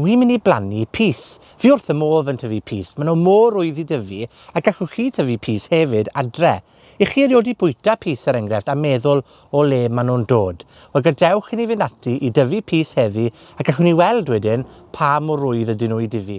Wi'n mynd i blannu pys. Fi wrth y modd yn tyfu pys. Maen nhw mor rwydd i dyfu, a gallwch chi tyfu pys hefyd adre. I chi erioed 'di bwyta pys, er enghraifft, a meddwl o le maen nhw'n dod? Wel, gadewch i ni fynd ati i dyfu pys heddi, a gallwn ni weld wedyn pa mor rwydd ydyn nhw i dyfu.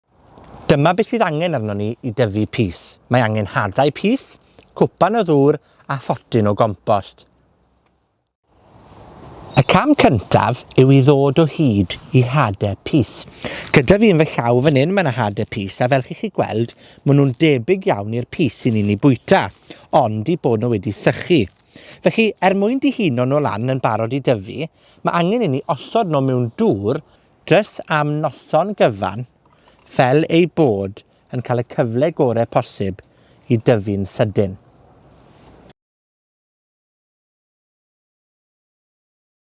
Dyma beth sydd angen arnon ni i dyfu pys. Mae angen hadau pys, cwpan o ddŵr a photyn o gompost. Y cam cyntaf yw i ddod o hyd i hade pys. Gyda fi yn fy llaw fan hyn, mae yna hade pys, a fel chi chi gweld, maen nhw'n debyg iawn i'r pys sy'n ni'n ei bwyta, ond i bod nhw wedi sychu. Felly, er mwyn dihuno nhw lan yn barod i dyfu, mae angen i ni osod nhw mewn dŵr Jys am noson gyfan, fel eu bod yn cael y cyfle gore posib i dyfu'n sydyn.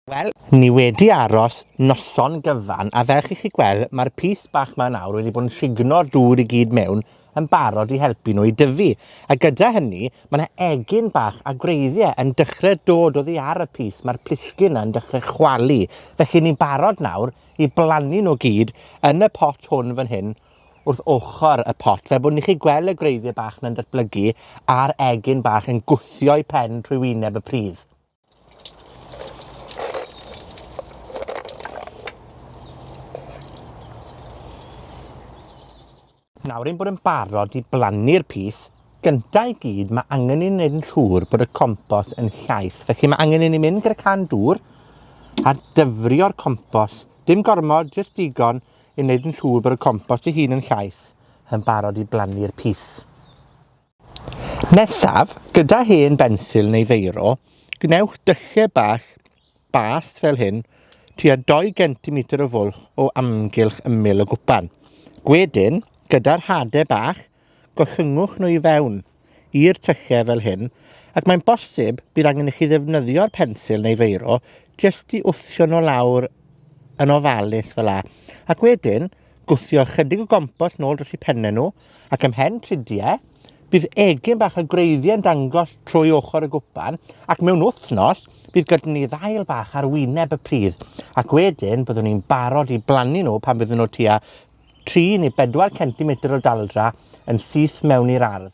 Wel, ni wedi aros noson gyfan, a fel chi 'llu gwel', ma'r pys bach 'ma nawr wedi bod yn shigno'r dŵr i gyd mewn yn barod i helpu nw i dyfu, a gyda hynny, ma' 'na egin bach a gwreiddie yn dechre dod oddi ar y pys, ma'r plisgyn 'na yn dechre chwalu. Felly, ni'n barod nawr i blannu nw gyd yn y pot hwn fan hyn, wrth ochor y pot, fel bo' ni 'llu gwel' y gwreiddie bach 'na'n datblygu, a'r egin bach yn gwthio'u pen trwy wyneb y pridd. Nawr ein bod yn barod i blannu'r pys, gynta i gyd, ma' angen i ni neud yn siŵr bod y compos yn llaith. Felly, ma' angen i ni mynd gyda can dŵr, a dyfrio'r compos. Dim gormod, jyst digon i neud yn siŵr bod y compost ei hun yn llaith, yn barod i blannu'r pys. Nesaf, gyda hen bensil neu feiro, gwnewch dylle bach bas fel hyn, tua dou gentimeter o fwlch o amgylch ymyl y gwpan. Wedyn, gyda'r hade bach, gollynwch nw i fewn i'r tyllau fel hyn, ac mae'n bosib bydd angen i chi ddefnyddio'r pensil neu feiro jyst i wthio nw lawr yn ofalus fela, ac wedyn gwthio ychydig o gompost nôl dros 'u penne nw, ac ymhen trudie, bydd egin bach y gwreiddie yn dangos trwy ochor y gwpan, ac mewn wthnos, bydd gyda ni ddail bach ar wyneb y pridd, ac wedyn byddwn ni'n barod i blannu nw pan fydden nw tua tri ne' bedwar centimeter o daldra yn syth mewn i'r ardd.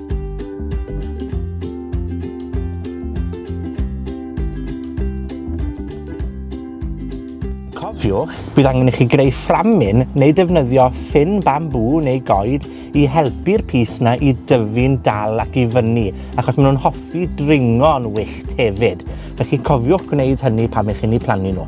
Cofiwch, bydd angen i chi greu fframyn neu defnyddio ffyn bambŵ neu goed i helpu'r pys 'na i dyfu'n dal ac i fyny, achos ma' nw'n hoffi dringo'n wyllt hefyd. Felly, cofiwch gwneud hynny pan 'ych chi'n 'u plannu nw.